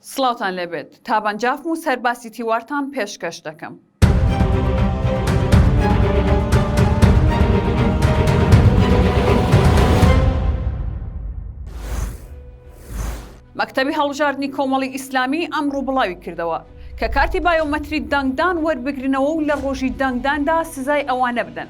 سڵاوتان لێبێت تابان جافم و سەرباسی تیوارتان پێشکەش دەکەم. مەکتەبی هەڵبژاردنی کۆمەڵی ئیسلامی ئەمڕوو بڵاوی کردەوە کە کارتی بایۆمەتری دەنگدان وەربگرنەوە و لە ڕۆژی دەنگداندا سزای ئەوانە بدەن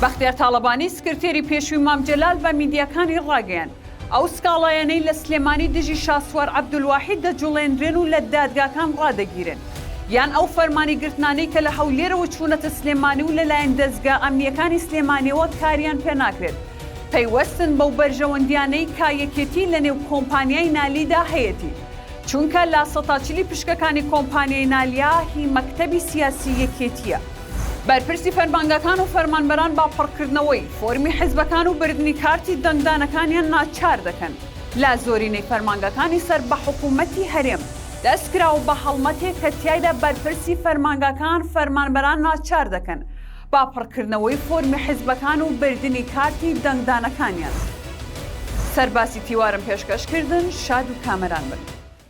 بەختیار تاڵەبانی سکرتێری پێشووی مام جەلال بە میدیاکانی ڕاگەیاند، ئەو سکاڵایانەی لە سلێمانی دژی شاسوار عەبدولواحید دەجوڵێنرێن و لە دادگاکان ڕادەگیرێن، یان ئەو فەرمانی گرتنانەی کە لە هەولێرەوە چوونەتە سلێمانی و لەلایەن دەزگا ئەمنییەکانی سلێمانیەوە کاریان پێناکرێت، پەیوەستن بەو بەرژەوەندییانەی کا یەکێتی لەنێو کۆمپانیای نالیدا هەیەتی، چونکە لا سەتاچلی پشکەکانی کۆمپانیای نالیا هی مەکتەبی سیاسی یەکێتییە. بەرپرسی فەرمانگەکان و فەرمانبەران بە پڕکردنەوەی فۆرمی حزبەکان و بردنی کارتی دەنگدانەکانیان ناچار دەکەن لە زۆرینەی فەرمانگەکانی سەر بە حکوومەتی هەرێم دەستکراوە بە هەڵمەتێک کە تیایدا بەرپرسی فەرمانگەکان فەرمانبەران ناچار دەکەن بە پڕکردنەوەی فۆرمی حزبەکان و بردنی کارتی دەنگدانەکانیان سەرباسی تیوارم پێشکەش کردن شاد و کامەران بن.